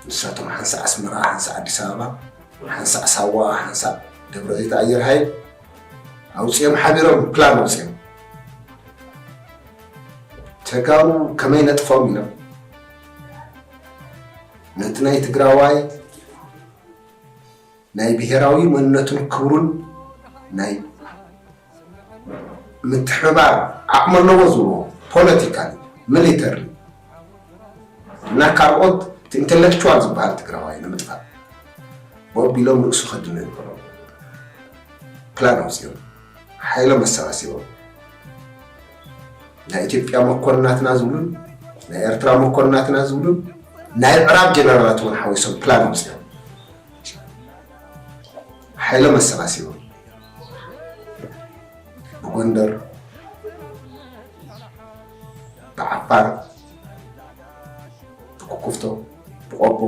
ንሳቶም ሓንሳእ ኣስመራ፣ ሓንሳእ ኣዲስ ኣበባ፣ ሓንሳእ ሳዋ፣ ሓንሳእ ደብረ ዘይት ኣየር ሃይል ኣውፅኦም ሓቢሮም ፕላን ኣውፅኦም ተጋሩ ከመይ ነጥፎም ኢሎም ነቲ ናይ ትግራዋይ ናይ ብሄራዊ መንነቱን ክብሩን ናይ ምትሕብባር ዓቕሚ ኣለዎ ዝብልዎ ፖለቲካል ሚሊተሪ እና ካልኦት እቲ ኢንተሌክቹዋል ዝበሃል ትግራዋይ ንምጥፋእ ወቢሎም ርእሱ ከድነ ይበሎ ፕላን ኣውፂኦም ሓይሎም ኣሰባሲቦም ናይ ኢትዮጵያ መኮንናትና ዝብሉን ናይ ኤርትራ መኮንናትና ዝብሉን ናይ ዕራብ ጀነራላት እውን ሓዊሶም ፕላን ወስዶም ሓይሎም ኣሰባሲቦም ብጎንደር ብዓፋር ብኩኩፍቶ ብቆቦ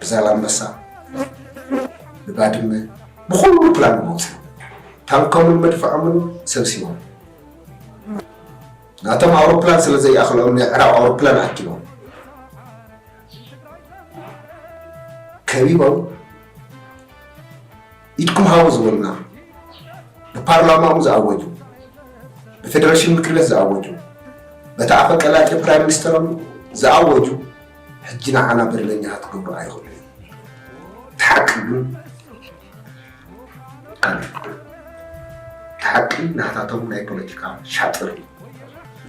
ብዛላምበሳ ብባድመ ብኩሉ ፕላን መውፅኢ ታንኮምን መድፍዖምን ሰብሲቦም ናቶም ኣውሮፕላን ስለ ዘይኣኽሎም ናይ ዕራብ ኣውሮፕላን ኣኪቦም ከቢቦም ኢድኩም ሃቡ ዝበሉና፣ ብፓርላማኡ ዝኣወጁ፣ ብፌደሬሽን ምክር ቤት ዝኣወጁ፣ በቲ ኣፈ ቀላጤ ፕራይም ሚኒስተሮም ዝኣወጁ ሕጂ ንዓና በደለኛታት ክገብሩ ኣይኽእሉ እዮም። እቲ ሓቂ ግን ካልእ እዩ። እቲ ሓቂ ናታቶም ናይ ፖለቲካ ሻጥር እዩ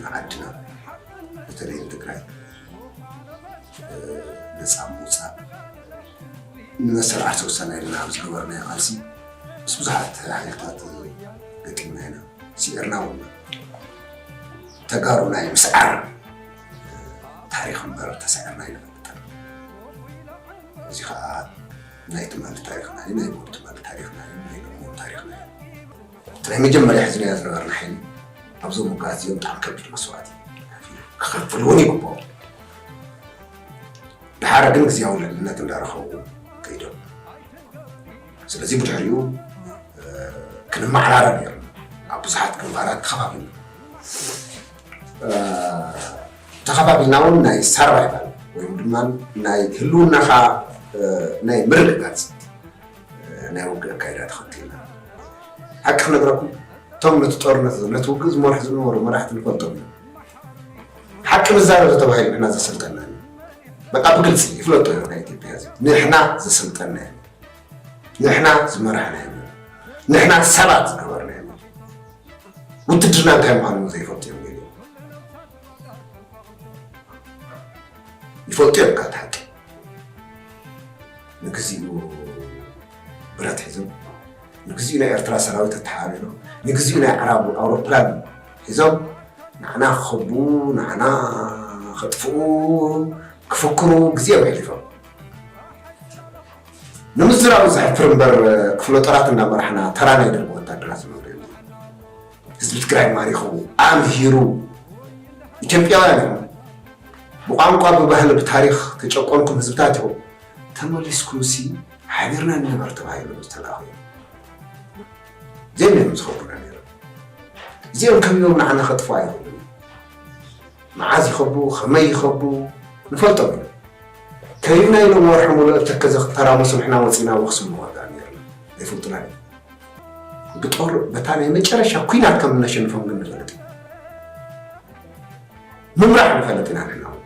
ንዓድና በተለይ ንትግራይ ነፃ ምውፃእ ንመሰረዓት ወሳና ኢልና ኣብ ዝገበርናዮ ቃልሲ ምስ ብዙሓት ሓይልታት ገጢምና ኢና ስዒርና እውን ተጋሩ ናይ ምስዓር ታሪክ እምበር ተሳዒርና ኣይንፈልጥን እዚ ከዓ ናይ ትማሊ ታሪክና እዩ ናይ ትማሊ ታሪክና እዩ ናይ ሎሚ ታሪክና እዩ ናይ መጀመርያ ሕዝናያ ዝነበርና ሓይሊ ኣብዞም ውግኣት እዚኦም ብጣዕሚ ከቢድ መስዋእቲ ክኸፍል እውን ይግብኦ ድሓረ ግን ግዜያዊ ልዕልነት እንዳረኸቡ ከይዶም ስለዚ ብድሕሪኡ ክንመዓራረ ነይሩ ኣብ ብዙሓት ግንባራት ተኸባቢልና ተኸባቢልና እውን ናይ ሳርቫይቫል ወይም ድማ ናይ ህልውናኻ ናይ ምርግጋፅ ናይ ውግእ ኣካይዳ ተኸቲልና። ሓቂ ክነግረኩም እቶም ነቲ ጦርነት እዚ ነቲ ውግእ ዝመርሑ ዝነበሩ መራሕቲ ንፈልጦም እዮም። ሓቂ ንዛረብ ዝተባሂሉ ንሕና ዘሰልጠና እዩ። በቃ ብግልፂ ይፍለጦ እዩ ናይ ኢትዮጵያ ህዝቢ ንሕና ዘሰልጠና እዩ። ንሕና ዝመራሕና እዩ። ንሕና ሰባት ዝገበርና እዩ። ውትድርና እንታይ ምዃኑ እውን ዘይፈልጡ እዮም ገሊኦም። ይፈልጡ እዮም ካብ እቲ ሓቂ ንግዚኡ ብረት ሒዞም፣ ንግዚኡ ናይ ኤርትራ ሰራዊት ኣተሓባቢሮም፣ ንግዚኡ ናይ ኣዕራብ ኣውሮፕላን ሒዞም ንዓና ክኸቡ ንዓና ከጥፍኡ ክፍክሩ ግዜኦም የሕሊፎም። ንምዝራቡ ዘሕፍር እምበር ክፍለ ጦራት እንዳመራሕና ተራ ናይ ደርቢ ወታደራት ዝነብሩ እዮም። ህዝቢ ትግራይ ማሪኹ ኣምሂሩ ኢትዮጵያውያን እዮም። ብቋንቋ ብባህሊ ብታሪኽ ተጨቆንኩም ህዝብታት ኢኹም ተመሊስኩምሲ ሓቢርና ንንበር ተባሂሎም ዝተላእኹ እዮም እዚኦም ነይሮም ዝኸቡና ነይሮም እዚኦም ከቢቦም ንዓና ከጥፍኡ ኣይኽእሉን መዓዝ ይኸቡ ከመይ ይኸቡ ንፈልጦም ኢና ከቢብና ኢሎም ወርሒ ሙሉእ ኣብ ተከዘ ክተራመሱ ንሕና ወፂና ወክሲ ንዋጋእ ነይርና ኣይፈልጡና እዮም ብጦር በታ ናይ መጨረሻ ኩናት ከም እነሸንፎም ግን ንፈልጥ ኢና ምምራሕ ንፈልጥ ኢና ንሕና እውን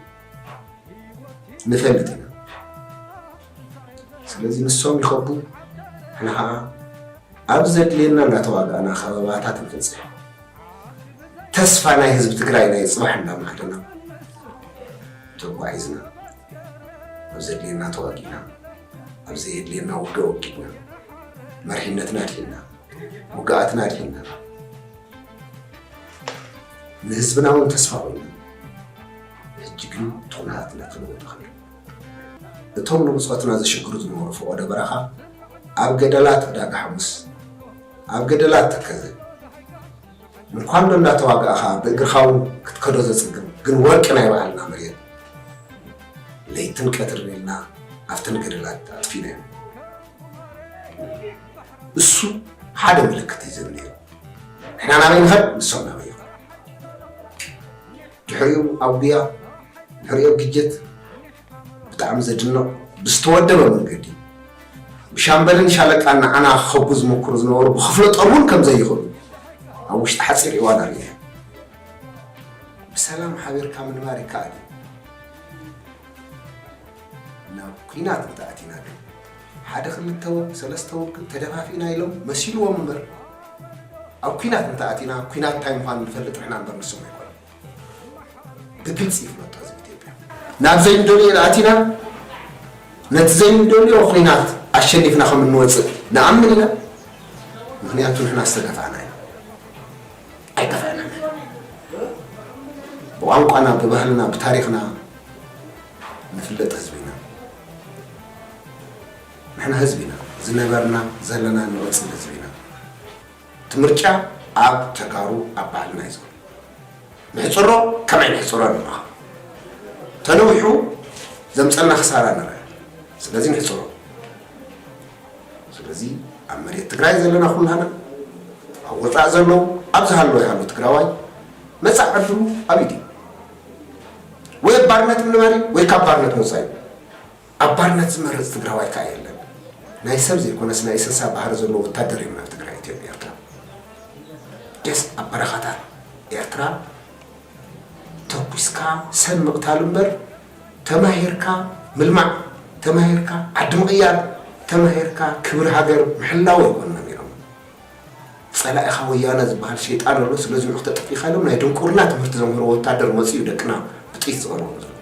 ንፈልጥ ኢና ስለዚ ንሶም ይኸቡ ንሕና ከዓ ኣብ ዘድልየና እናተዋጋእና ከበባታት ንፍፅሕ ተስፋ ናይ ህዝቢ ትግራይ ናይ ፅባሕ እናማዕደና ተጓዒዝና ኣብ ዘድልየና ተዋጊእና ኣብ ዘየድልየና ውግእ ወጊእና መሪሕነትና ኣድሒና ውግኣትና ኣድሒና ንህዝብና እውን ተስፋ ኮይኑ ሕጂ ግን ቶናት እናተለወጠ ከሎ እቶም ንብፆትና ዘሽግሩ ዝነበሩ ፈቆዶ በረኻ ኣብ ገደላት ዕዳጋ ሓሙስ ኣብ ገደላት ተከዘ ምኳንዶ እንዳተዋጋእኻ ብእግርኻ እውን ክትከዶ ዘፅግም ግን ወርቂ ናይ በዓልና መሬት ለይትን ቀትርን ኢልና ኣብተን ገደላት ኣጥፊናዮም እሱ ሓደ ምልክት እዩ ዝብል ነይሩ ንሕና ናበይ ንኸድ ንሶም ናበይ ይኸዱ ድሕሪኡ ኣብ ጉያ ድሕሪኡ ግጀት ብጣዕሚ ዘድንቕ ብዝተወደበ መንገዲ ብሻምበልን ሻለቃን ንዓና ክኸቡ ዝመክሩ ዝነበሩ ብክፍለ ጦር እውን ከም ዘይኽእሉ ኣብ ውሽጢ ሓፂር እዋን ኣርእየ ብሰላም ሓቢርካ ምንባር ይከኣል እዩ ናብ ኩናት እንተኣቲና ግን ሓደ ክልተ ወርቂ ሰለስተ ወርቂ እንተደፋፊእና ኢሎም መሲልዎም እምበር ኣብ ኩናት እንተኣቲና ኩናት እንታይ ምዃኑ ንፈልጥ ንሕና እምበር ንሶም ኣይኮኑን ብግልፂ ይፍለጦ ህዝቢ ኢትዮጵያ ናብ ዘይንደልዮ ኢና ኣቲና ነቲ ዘይንደልዮ ኩናት ኣሸኒፍና ከም እንወፅእ ንኣምን ኢና ምክንያቱ ንሕና ዝተጋፋዕና ኢና ኣይጋፋዕና ብቋንቋና ብባህልና ብታሪክና ንፍለጥ ህዝቢ ኢና ንሕና ህዝቢ ኢና ዝነበርና ዘለናን ንቅፅል ህዝቢ ኢና እቲ ምርጫ ኣብ ተጋሩ ኣብ ባህልና እዩ ዘሎ ንሕፅሮ ከመይ ንሕፅሮ ንራከብ ተነዊሑ ዘምፀልና ክሳራ ንርእ ስለዚ ንሕፅሮ ስለዚ ኣብ መሬት ትግራይ ዘለና ኩላና ኣብ ወፃእ ዘለዉ ኣብ ዝሃለወ ይሃሉ ትግራዋይ መፃእ ዕድሉ ኣብ ኢድ እዩ ወይ ኣብ ባርነት ምንባር እዩ ወይ ካብ ባርነት ምውፃእ እዩ። ኣብ ባርነት ዝመርፅ ትግራዋይ ከዓ የለን። ናይ ሰብ ዘይኮነስ ናይ እሰሳ ባህሪ ዘለዎ ወታደር እዮም ናብ ትግራይ ኢትዮጵያ ኤርትራ ደስ ኣብ በረኻታት ኤርትራ ተኩስካ ሰብ ምቕታል እምበር ተማሂርካ ምልማዕ ተማሂርካ ዓዲ ምቕያር ተማሂርካ ክብሪ ሃገር ምሕላው ኣይኮነን። ጸላኢኻ ወያነ ዝብሃል ሸይጣን ኣሎ ስለ ዝንዑ ክተጥፊእኻ ኢሎም ናይ ድንቁርና ትምህርቲ ዘምህርዎ ወታደር መጽዩ እዩ ደቅና ብጥይት ዝቐንዎም ዘሎ።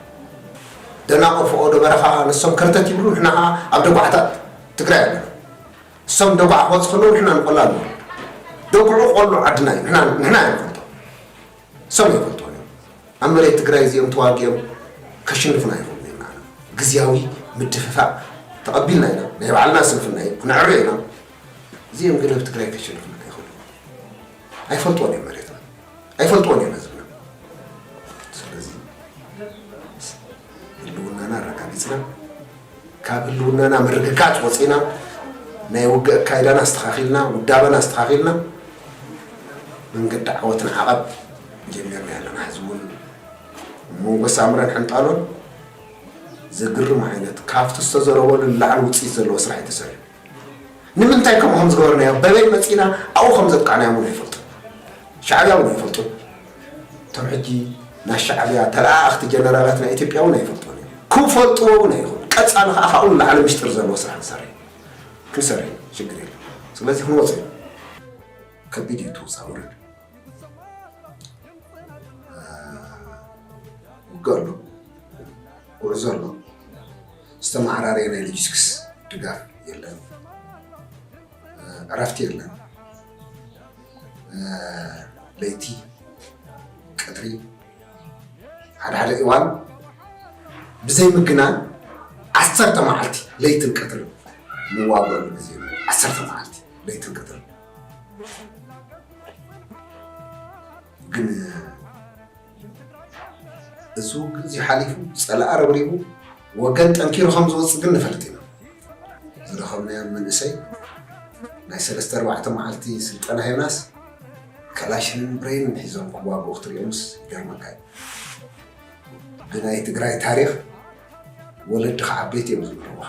ደናቑር ፎቖዶ በረኻ ከኣ ንሶም ከርተት ይብሉ ንሕና ከኣ ኣብ ደጉዓታት ትግራይ ኣለና። ንሶም ንደጉዓ ክበጽሑ ከለዉ ንሕና ንቆላ ንወርድ። ደጉዑ ቆሎ ዓድና እዩ ንሕና ንሕና ኢና ንፈልጦ ንሶም ኣይፈልጥዎን እዮም። ኣብ መሬት ትግራይ እዚኦም ተዋጊኦም ከሽንፉና ኣይኽእሉን እዮም ንዓና። ግዝያዊ ምድፍፋእ ተቐቢልና ኢና ናይ ባዕልና ስንፍና እዩ ክነዕርዮ ኢና። እዚኦም ግን ኣብ ትግራይ ከሸንፉልና ኣይኽእሉን እዮም። ኣይፈልጥዎን እዮም መሬትና፣ ኣይፈልጥዎን እዮም ህዝብና። ስለዚ ህልውናና ኣረጋጊፅና ካብ ህልውናና ምርግጋፅ ወፂና ናይ ውግእ ኣካይዳና ኣስተኻኺልና ውዳበና ኣስተኻኺልና መንገዲ ዓወት ንዓቐብ ጀሚርና ኣለና። ሕዚ እውን መንጎ ሳምረን ሕንጣሎን ዘግርም ዓይነት ካብቲ ዝተዘረበሉ ንላዕሊ ውፅኢት ዘለዎ ስራሕ እዩ ተሰሪሑ። ንምንታይ ከምኡ ከም ዝገበርናዮ በበይ መጺእና ኣብኡ ከም ዘጥቃዕናዮም እውን ኣይፈልጡን። ሻዕብያ እውን ኣይፈልጡን። እቶም ሕጂ ናይ ሻዕብያ ተለኣኣኽቲ ጀነራላት ናይ ኢትዮጵያ እውን ኣይፈልጡዎን እዮም። ክፈልጡዎ እውን ኣይኽእሉን። ቀጻሊ ከኣ ካብኡ ንላዕሊ ምስጢር ዘለዎ ስራሕ ንሰርሕ ኢና። ክንሰርሕ ኢና ሽግር የለን። ስለዚ ክንወጽእ ኢና። ከቢድ እዩ እቲ ውጻእ ውረድ። ውግእ ኣሎ፣ ጉዕዞ ኣሎ። ዝተመዓራረየ ናይ ሎጂስቲክስ ድጋፍ የለን፣ ዕረፍቲ የለን። ለይቲ ቀትሪ ሓደ ሓደ እዋን ብዘይ ምግናን ዓሰርተ መዓልቲ ለይትን ቀትርን ንዋገሉ ግዜ ዓሰርተ መዓልቲ ለይትን ቀትርን ግን እዚ ውግእ እዚ ሓሊፉ ፀላኢ ረብሪቡ ወገን ጠንኪሩ ከም ዝወፅእ ግን ንፈልጥ ኢና ዝረኸብናዮም መንእሰይ ናይ ሰለስተ ኣርባዕተ መዓልቲ ስልጠና ሂብናስ ከላሽንን ብሬንን ሒዞም ክዋግኡ ክትሪኦምስ ይገርመካ እዩ ግን ናይ ትግራይ ታሪክ ወለድኻ ዓበይቲ እዮም ዝምህርዋ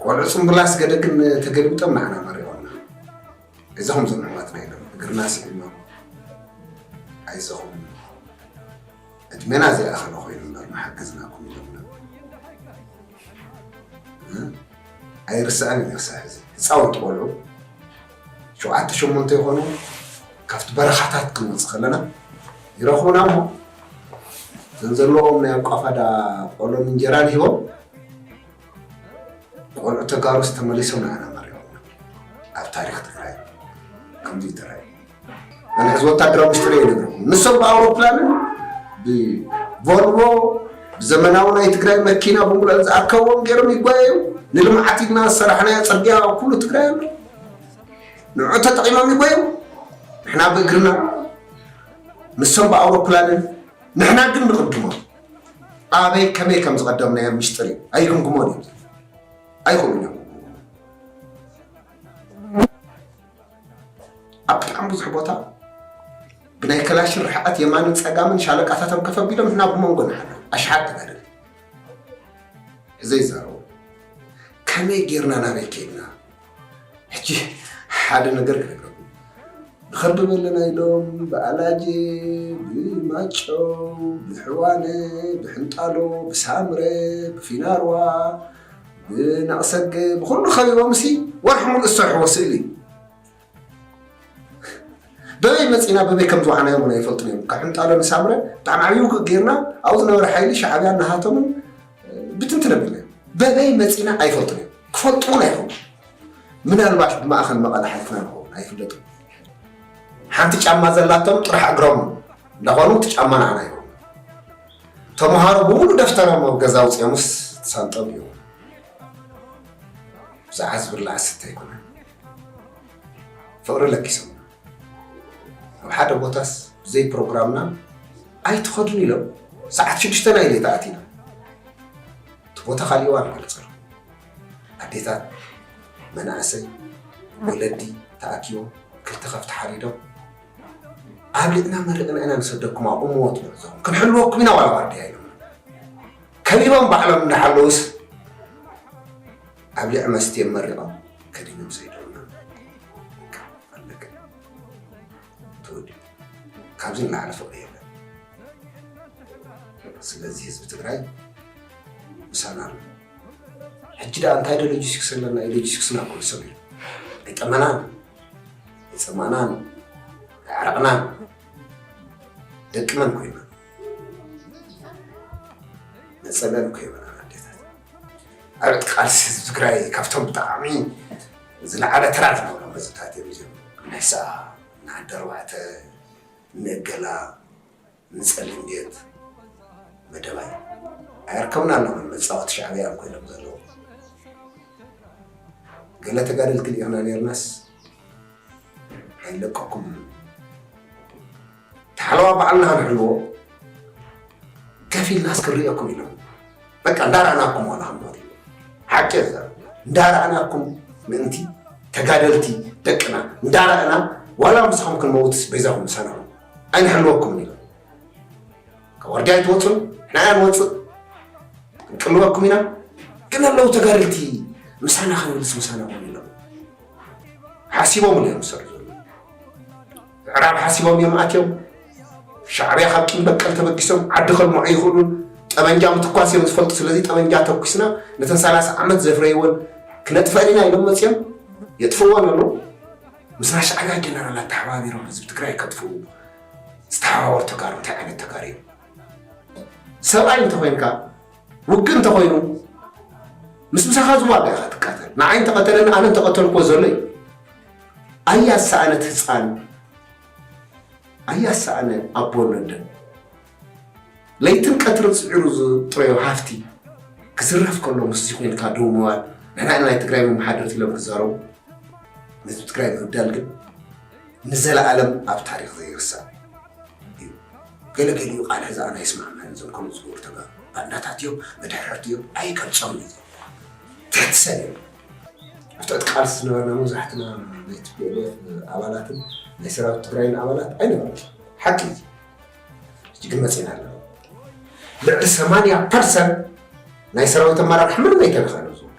ቆልዑ ፅምብላስ ገደግን ተገልብጦም ንዓና መሪቖምና ኣይዞኹም ዞም ኣሕዋትና ኢሎም እግርና ስዒሞም ኣይዞኹም ዕድሜና ዘይኣኸለ ኮይኑ እምበር ምሓገዝናኩም ኢሎምና ኣይርስዕን ክሳዕ ሕዚ ህፃውንቲ ቆልዑ ሸውዓተ ሸሞንተ ይኾኑ ካብቲ በረኻታት ክንወፅእ ከለና ይረኽቡና እሞ እዘን ዘለዎም ናይ ኣቋፋዳ ቆሎን እንጀራን ሂቦም ንቆልዑ ተጋሩስ ተመሊሶም ንዓና መሪሖምና ኣብ ታሪክ ትግራይ ከምዚ እዩ ተራእዩ ኣነ ሕዚ ወታደራዊ ምስጢር እየ ይነግረኩም ንሶም ብኣውሮፕላንን ብቮልቮ ብዘመናዊ ናይ ትግራይ መኪና ብምሉአን ዝኣከብዎም ገይሮም ይጓየዩ ንልምዓት ኢልና ዝሰራሕናዮ ፅርግያ ኩሉ ትግራይ ኣሎ ንዑ ተጠቂሞም ይጓየዩ ንሕና ብእግርና ንሶም ብኣውሮፕላንን ንሕና ግን ንቕድሞም ኣበይ ከመይ ከም ዝቐደምናዮ ሚስጥር እዩ ኣይግምግሞን እዮም ኣይኽእሉን እዮም ኣብ ብጣዕሚ ብዙሕ ቦታ ብናይ ከላሽን ርሕቐት የማንን ፀጋምን ሻለቃታቶም ከፍ ኣቢሎም ንሕና ብመንጎ ንሓለ ኣሽሓት ትበልል እዘይ ይዛረቡ ከመይ ጌርና ናበይ ከይድና ሕጂ ሓደ ነገር ክነግረኩም ብኸርዲ በለና ኢሎም ብኣላጀ ብማጮ ብሕዋነ ብሕንጣሎ ብሳምረ ብፊናርዋ ብናቕሰገ ብኩሉ ከቢቦም ሲ ወርሒ ሙሉእ ዝሰርሕዎ ስእሊ በበይ መፂና በበይ ከም ዝዋሓናዮም እውን ኣይፈልጡን እዮም ካብ ሕንጣሎ ንሳምረ ብጣዕሚ ዓብዪ ውግእ ጌርና ኣብኡ ዝነበረ ሓይሊ ሻዕብያን ንሃቶምን ብትንትን ኣቢልና በበይ መፂና ኣይፈልጡን እዮም ክፈልጡ እውን ኣይኮኑ ምናልባት ብማእኸል መቐለ ሓልፍና ንኸውን ኣይፍለጡን ሓንቲ ጫማ ዘላቶም ጥራሕ እግሮም እንዳኾኑ እቲ ጫማ ንዓና ይኸውን ተምሃሮ ብምሉእ ደፍተሮም ኣብ ገዛ ውፅኦምስ ሳንጦም እዩ ብዛዕባ ዝብላዕ ስተ ኣይኮነን ፍቕሪ ለኪሶም ኣብ ሓደ ቦታስ ብዘይ ፕሮግራምና ኣይትኸዱን ኢሎም ሰዓት ሽዱሽተ ናይ ሌታ ኣቲና እቲ ቦታ ካሊእ እዋን ክገልጸሉ ኣዴታት መናእሰይ ወለዲ ተኣኪቦም ክልተ ከፍቲ ሓሪዶም ኣብልጥና መርቕና ኢና ንሰደኩም ኣብኡ መወት ንዕዞም ክንሕልወኩም ኢና ዋላ ዋርድያ ኢሎም ከቢቦም ባዕሎም እንዳሓለውስ ኣብ ልዕ መስትዮም መሪቖም ከዲኖም ሰይዶምና ኣለቀ ተወዲኡ ካብዚ ንላዕሊ ፍቕሪ የለን ስለዚ ህዝቢ ትግራይ ምሳና ኣሎ ሕጂ ደኣ እንታይ ዶ ሎጂስቲክስ ኣለና እዩ ሎጂስቲክስና ኩሉ ሰብ እዩ ኣይጠመናን ኣይፀማእናን ኣይዓረቕናን ደቂ መን ኮይና ንፀለል እኮ ይበላል ኣዴታት ኣብት ቃልሲ ህዝቢ ትግራይ ካብቶም ብጣዕሚ ዝለዓለ ተራ ዝነበሮም ህዝብታት እዮም እዚኦም ንሕስኣ ንዓዲ ኣርባዕተ ንእገላ ንፀሊም ቤት መደባይ ኣየርከቡን ኣለውን መፃወቲ ሻዕብያ እዮም ኮይኖም ዘለዉ ገለ ተጋደልቲ ሊኢኽና ነርናስ ኣይለቀኩም ሓለዋ ባዕልና ክንሕልዎ ከፊልና እስክንርእየኩም ኢና በቃ እንዳራእናኩም ዋላ ክንሞት እዩ ሓቂ እዛ እንዳራእናኩም ምእንቲ ተጋደልቲ ደቅና እንዳራእና ዋላ ምስኹም ክንመውትስ በይዛኹም ሰንዑ ኣይንሕልወኩም ኢና ካብ ወርድያ ኣይትወፁን ንሕና እያ ንወፅእ ክንቅልበኩም ኢና ግን ኣለዉ ተጋደልቲ ምሳና ክንብልስ ምሳና ውን ኢሎም ሓሲቦም እዮም ዝሰርሑ ምዕራብ ሓሲቦም እዮም ኣትዮም። ሻዕብያ ካብ ቂም በቀል ተበጊሶም ዓዲ ከልምዑ ኣይኽእሉን። ጠበንጃ ምትኳስ እዮም ዝፈልጡ። ስለዚ ጠበንጃ ተኩስና ነተን ሰላሳ ዓመት ዘፍረይወን ክነጥፈኣን ኢና ኢሎም መፅዮም የጥፍእወን ኣለዉ። ምስ ናይ ሻዕብያ ጀነራላት ተሓባቢሮም ህዝቢ ትግራይ ከጥፍኡ ዝተሓባበሩ ተጋሩ እንታይ ዓይነት ተጋሩ እዮም? ሰብኣይ እንተኾይንካ ውግእ እንተኾይኑ ምስ ምሳኻ ዝዋጋእ ኢኻ ትቃተል። ንዓይ እንተቐተለኒ ኣነ እንተቐተልክዎ ዘሎ እዩ። ኣያ ዝሰኣነት ህፃን ኣያ ዝሰኣነ ኣቦ ነደን ለይትን ቀትርን ፅዒሩ ዝጥረዮ ሃፍቲ ክዝረፍ ከሎ ምስዚ ኮይንካ ደው ምባል ንሕና ኢና ናይ ትግራይ መመሓደርቲ ኢሎም ክዛረቡ ንህዝቢ ትግራይ ምብዳል ግን ንዘለኣለም ኣብ ታሪክ ዘይርሳዕ እዩ ገለ ገሊኡ ቃል ሕዛእና ኣይስማዕማዕን እዞም ከምኡ ዝገብሩ ተጋሩ ባንዳታት እዮም መድሕረርቲ እዮም ኣይገልጾምን እዩ ዘሎ ትሕቲ ሰብ እዮም ኣብ ትሕቲ ቃልሲ ዝነበርና መብዛሕትና ናይ ቲፒኤልኤፍ ኣባላትን ናይ ሰራዊት ትግራይን ኣባላት ኣይነበርና ሓቂ እዩ ሕጂ ግን መፂና ኣለና ልዕሊ ሰማንያ ፐርሰንት ናይ ሰራዊት ኣመራርሓ ምንም ኣይተነኸነ ዝብሉ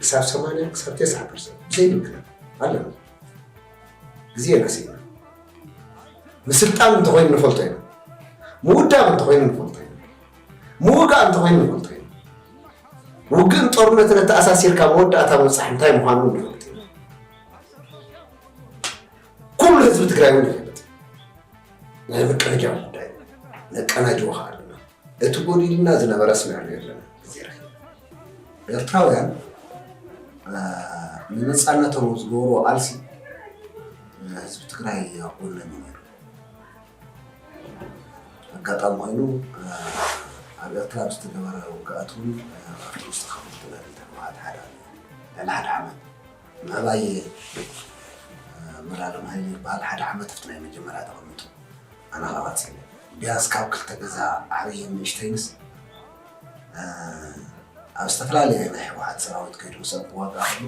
ክሳብ ሰማንያ ክሳብ ተስዓ ፐርሰንት ብዘይ ምክንያት ኣለና ግዜ ረሲና ምስልጣን እንተኮይኑ ንፈልጦ ኢና ምውዳብ እንተኮይኑ ንፈልጦ ኢና ምውጋእ እንተኮይኑ ንፈልጦ ኢና ውግእን ጦርነትን ኣተኣሳሲርካ መወዳእታ ምብፃሕ እንታይ ምዃኑ ንፈልጥ ኢና ኩሉ ህዝቢ ትግራይ እውን ይፈልጥ ናይ ምቅንጃው ጉዳይ ነቀናጅዎ ከዓ ኣለና እቲ ጎዲልና ዝነበረ ኣስሚዕናዮ ኣለና ግዜ ረኪብ ኤርትራውያን ንነፃነቶም ኣብ ዝገበርዎ ቃልሲ ህዝቢ ትግራይ ኣብ ጎነን እዩ ነይሩ ኣጋጣሚ ኮይኑ ኣብ ኤርትራ ብዝተገበረ ውግኣት እውን ኣብቲ ውስጥ ከፍልጥና ተባሃት ሓደ ልዕሊ ሓደ ዓመት ምዕባይ መላለም ሃይለ ይበሃል ሓደ ዓመት ኣብቲ ናይ መጀመርያ ተቐሚጡ ኣነ ኸኣ ቀጺለ ቢያንስ ካብ ክልተ ገዛ ዓብይን ንእሽተይንስ ኣብ ዝተፈላለየ ናይ ህወሓት ሰራዊት ከይዱ ምስ ኣብ ዋጋ ከይዱ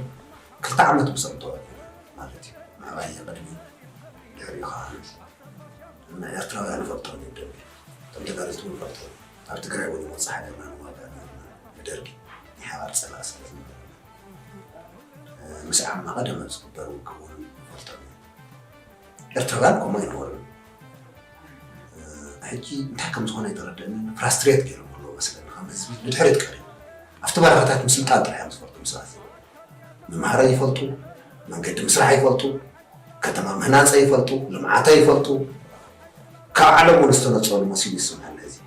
ክልተ ዓመት ምስ ኣብቶ ማለት እዩ ምዕባይ ቅድሚ ድሕሪኡ ኸኣ ንኤርትራውያን ንፈልጦም እዩ ደርጊ እቶም ተጋደልቲ እውን ፈልጦም ኣብ ትግራይ እውን ይወፅእ ሓደርና ንዋጋ ነርና ንደርጊ ናይ ሓባር ፀላእ ስለ ዝነበረ ምስ ዓቕመ ቀደመ ዝግበር ውግእ እውን ይፈልጦም እዩ ኤርትራውያን ከምኡ ኣይነበሩ ሕጂ እንታይ ከም ዝኾነ የተረድእኒ ፍራስትሬት ገይሮም ኣለዎ መስለኒ ከም ህዝቢ ንድሕሪት ቀሪ ኣብቲ በረኻታት ምስልጣን ጥራሕ እዮም ዝፈልጡ ምስራት ምምሃረ ይፈልጡ መንገዲ ምስራሕ ይፈልጡ ከተማ ምህናፀ ይፈልጡ ልምዓተ ይፈልጡ ካብ ዓለም እውን ዝተነፀሉ መሲሉ ይስምዐኒ ህዝቢ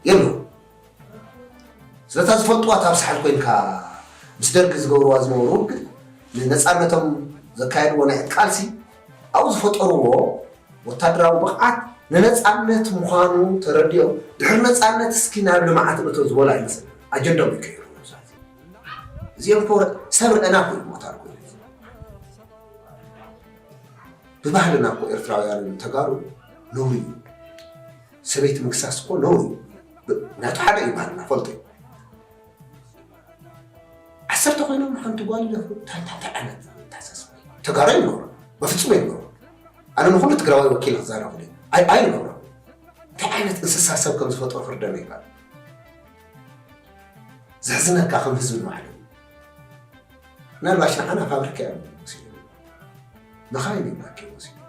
የሉ ስለታ ዝፈልጥዋ እታ ኣብ ሳሕል ኮይንካ ምስ ደርጊ ዝገብርዋ ዝነበሩ ውግእ ንነፃነቶም ዘካየድዎ ናይ ዕጥቂ ቃልሲ ኣብኡ ዝፈጠርዎ ወታደራዊ ብቕዓት ንነፃነት ምዃኑ ተረዲኦም ድሕሪ ነፃነት እስኪ ናብ ልምዓት እቶ ዝበሉ ኣይመስል ኣጀንዶም ይቀይሩ እዚኦም እኮ ሰብ ርዕና ኮይኑ ሞታር ኮይኑ ብባህልና እኮ ኤርትራውያን ተጋሩ ነውሪ እዩ ሰበይቲ ምግሳስ እኮ ነውር እዩ ብ- ናቱ ሓደ እዩ ባህልና ፈልጦ እዩ ዓሰርተ ኮይኖም ንሓንቲ ጓል ይደፍሩ እንታይ እንታይ እንታይ ዓይነት ተሓሳስባ እዩ? ተጋሩ ይነብሩ በፍፁም ይነብሩ ኣነ ንኩሉ ትግራዋይ ወኪል ክዛረብ ዩ ኣይ ኣይ ይነብሩ እንታይ ዓይነት እንስሳ ሰብ ከም ዝፈጥሮ ክርደነ ይባል ዘሕዝነካ ከም ህዝቢ ንባዕሉ ምናልባሽ ንዓና ፋብሪካ እዮም ወሲዶም መኻይን እዮም ኣኪቦም ወሲዶም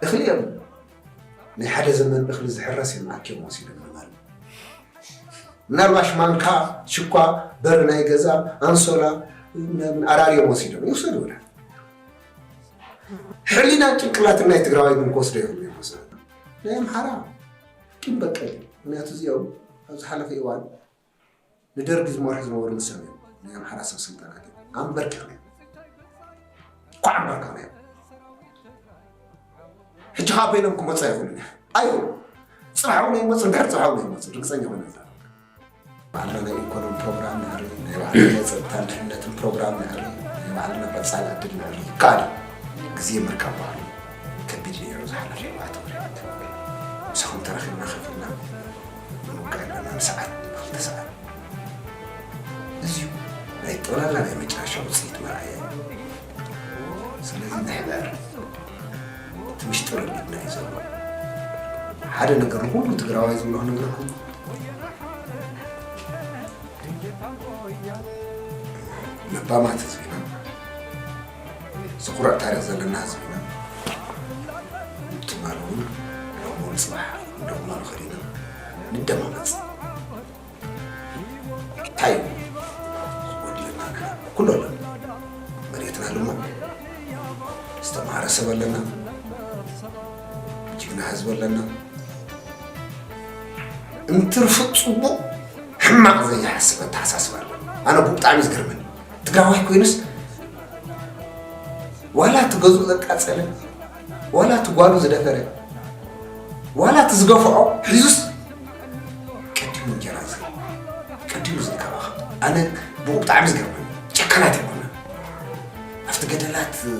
እኽሊ የብሉ ናይ ሓደ ዘመን እኽሊ ዝሕረስ እዮም ኣኪዮም ወሲዶም ንበል ምናልባሽ ማንካ ሽኳ በር ናይ ገዛ ኣንሶላ ኣራርዮም ወሲዶም ይውሰዱ ወላ ሕሊናን ጭንቅላትን ናይ ትግራዋይ ግን ክወስዶ ይኽእሉ እዮም ወስዶ ናይ ኣምሓራ ቂም በቀል እዩ። ምክንያቱ እዚኦም ኣብ ዝሓለፈ እዋን ንደርጊ ዝመርሑ ዝነበሩ ንሶም እዮም ናይ ኣምሓራ ሰብ ስልጣናት እዮም ኣምበርኪኽናዮም ኳዕ ኣምበርኪኽናዮም ሕጂ ከዓ በይኖም ክመፁ ኣይኽእሉን እዮም ኣዩ ፅባሕ እውን ኣይመፁ ድሕር ፅባሕ እውን ኣይመፁ ርግፀኛ ኾነ ዛ ባዕልና ናይ ኢኮኖሚ ፕሮግራም ንዕሪ ናይ ባዕልና ናይ ፀጥታን ድሕነትን ፕሮግራም ንዕሪ ናይ ባዕልና ቀፃሊ ዕድል ንዕሪ ይከኣል እዩ ግዜ ምርካብ ባህሉ ከቢድ ነይሩ ዝሓለፈ ኣርባዕተ ወርሒ ምሳኹም ተራኺብና ከፊልና ቀዳም ሰዓት ንክልተ ሰዓት እዚዩ ናይ ጠቕላላ ናይ መጨረሻ ውፅኢት መርኣያ እዩ። ስለዚ ምሕበር እቲ ምሽጥር ኣብ ኢድና እዩ ዘሎ። ሓደ ነገር ንኩሉ ትግራዋይ ዝብሎ ክነግረኩም ለባማት ህዝቢና ዝኩርዕ ታሪክ ዘለና ህዝቢ ኢና ትማል እውን ሎሚ እውን ፅባሕ ንደግሞ ንኽእል ኢና ንደማመፅ እንታይ እዩ ዝጎድለና ግና ኩሉ ኣሎ መሬትና ልሞ ዝተምሃረ ሰብ ኣለና ጅግና ህዝቢ ኣለና እንትርፊ ፅቡቅ ሕማቅ ዘይሓስብ ኣተሓሳስባ ኣለና ኣነ እኮ ብጣዕሚ እዩ ዝገርመኒ ትግራዋይ ኮይኑስ ዋላ እቲ ገዝኡ ዘቃፀለ ዋላ እቲ ጓሉ ዝደፈረ ዋላ እቲ ዝገፍዖ ሒዙስ ቀዲሙ እንጀራ ዝ ቀዲሙ ዝንከባኸብ ኣነ ብኡ ብጣዕሚ ዝገርመኒ ጨካናት ይኮነ ኣብቲ ገደላት እ፣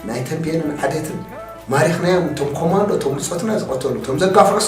ናይ ተንቤንን ዓዴትን ማሪኽናዮም እቶም ኮማንዶ እቶም ብፆትና ዝቐተሉ እቶም ዘጋፍዑስ